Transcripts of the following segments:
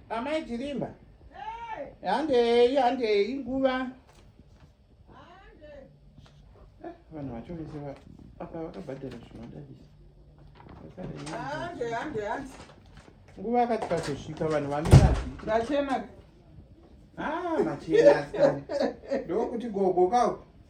Amai Chirimba. Handei, handei nguva. Eh, vanhu vacho vese apa vakabhadhara zvinodadisa. Hande, hande, hande. Nguva yakati pazosvika vanhu vamira zviti. Vachena. Ah, machena. Ndokuti gogo kawo.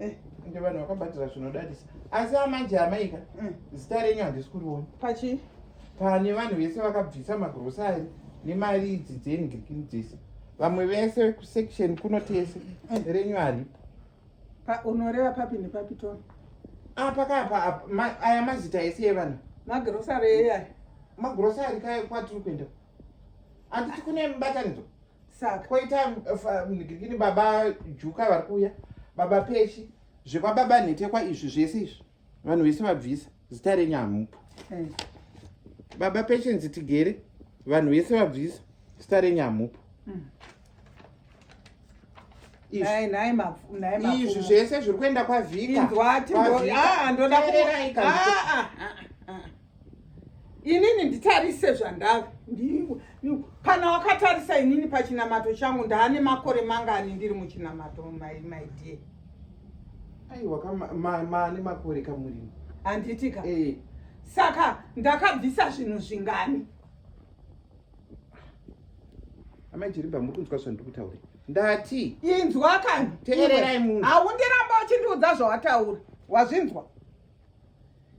Eh, ndi vanhu vakabatira zvinodadisa asi amanje amaika mm. zita renyu handisi kuriona pachi pane vanhu vese vakabvisa magrosari nemari idzi dzengikini dzese vamwe vese kusection kuno tese mm. renyu haripo unoreva papi nepapi tona apa ah, kapa aya mazita ese evanhu magrosari eya magrosari kwatiri kuenda handiti kune mibatanidzo saka koita mnigirikini baba juka vari kuuya baba pechi zvekwababa nhetekwa izvi zvese izvi vanhu vese vabvisa zita renyu hamupo eh. baba pechenzi tigere vanhu vese vabvisa zita renyu hamupo hmm. izvi zvese zviri kuenda kwavhika inini nditarise zvandave kana wakatarisa inini pachinamato changu ndaane makore mangani ndiri muchinamato maidie aiwa maane makore kamurimi handiti ka eh. saka ndakabvisa zvinhu zvingani amai jiriba muri kunzwa zvandiri kutaura ndati inzwa kani teererai munhu haundiramba uchindiudza zvawataura wazvinzwa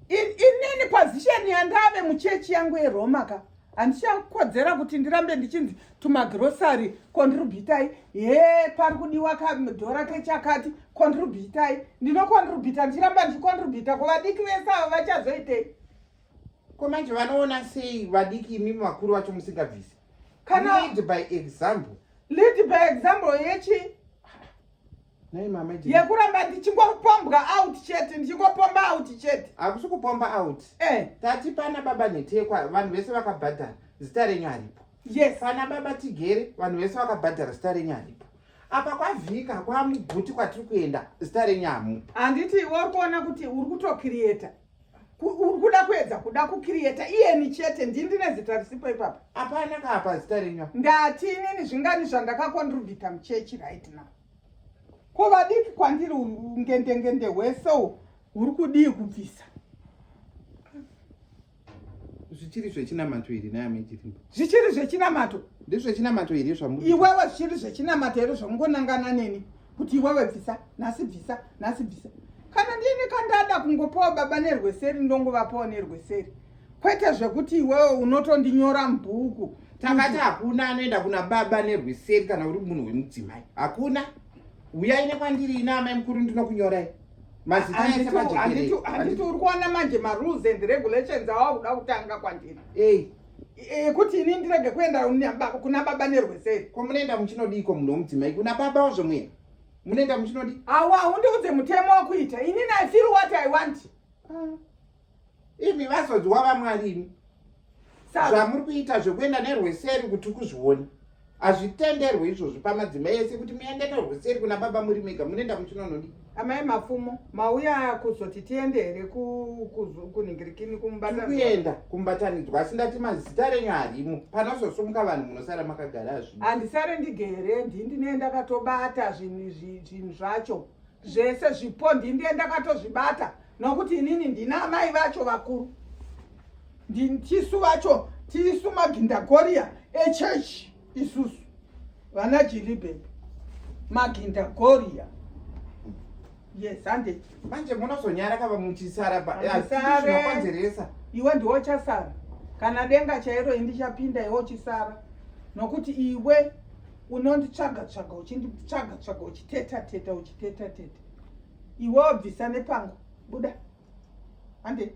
inini position yandave muchechi yangu yeroma ka handichakodzera kuti ndirambe ndichinzi tumagrosary contributai he pari kudiwa kadhora kechakati contributai ndinocontributa ndichiramba ndichicontributa ko vadiki vese avo vachazoitei ko manje vanoona sei vadiki imimi vakuru vacho musingabvisi kana lead by example lead by example yechi yekuramba ndichingopombwa out chete ndichingopomba out chete hakusi kupomba out eh. tati pana baba nhetekwa vanhu vese vakabhadhara zita renyu haripo yes pana baba tigere vanhu vese vakabhadhara zita renyu haripo apa kwavhika kwamuguti kwatiri kuenda zita renyu hamupo handiti iwe uri kuona kuti uri kutokiriyeta uri kuda kuedza kuda kukiriyeta iyeni chete ndii ndine zita risipo ipapa apana kaapa zita renyu ndati inini zvingani zvandakakontribhita muchechi right now ko vadiki kwandiri ngendengende hwese u huri kudii kubvisa zvichiri zvechinamato here naye amechirimo zvichiri zvechinamato ndezvechinamato here zvamu iwewe zvichiri zvechinamato here zvamungonangana neni kuti iwewe bvisa nhasi bvisa nhasi bvisa kana ndini kandada kungopawo baba nerweseri ndongovapawo nerweseri kwete zvekuti iwewe unotondinyora mubhuku takati hakuna anoenda kuna baba nerweseri kana uri munhu wemudzimai hakuna uyai nekwandiri ina amai mukuru ndinokunyorai mazitaanditi uri kuona manje marules and regulations awa kuda kutanga kwandiri ekuti eh, ini ndirege kuenda kuna baba nerweseri ko munoenda muchinodiiko munhu wemudzimai kuna baba wazvo muya munoenda muchinodi awa undiudze mutemo wakuita ini nifeel what i want ah. imi vazodziwa vamwari imi zvamuri kuita zvekuenda nerweseri kuti kuzvioni hazvitenderwe izvozvi pamadzimai ese kuti muende nerweseri kuna baba muri mega munoenda muchinonodi amai mafumo mauya kuzoti tiende here kunhingirikini kumubataniuenda kumubatanidzwa asi ndati mazita renyu harimo panozosumuka vanhu munosara makagara zvi handisare ndigere ndii ndinee ndakatobata zvinhu zvinhu zvacho zvese zvipo ndindie ndakatozvibata nokuti inini ndina amai vacho vakuru tisu vacho tisu magindagoriya echechi isusu vana jiribe magindagoriya yes hande manje munozonyara kava muchisara pakonzeresa iwe ndiwo chasara kana denga chairo indichapinda iwe uchisara nokuti iwe unonditsvaga tsvaga uchinditsvaga tsvaga uchiteta teta uchiteta teta iwe wabvisa nepangu buda hande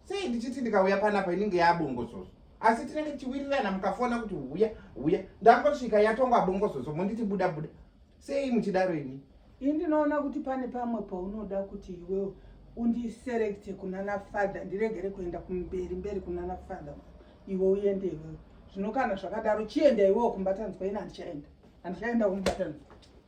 sei ndichiti ndikauya panapa inenge yabongozozo asi tinenge tichiwirirana mukafona kuti huya huya ndangosvika yatongwa bongozozo monditi buda buda sei muchidaro ini ini ndinoona kuti pane pamwe paunoda kuti iwewo undiserekte kunana father ndiregere kuenda kumberi mberi kunana father iwe uende iwewo zvino kana zvakadaro chienda iwewo kumbatanzwa ini handichaenda handichaenda kumbatanzwa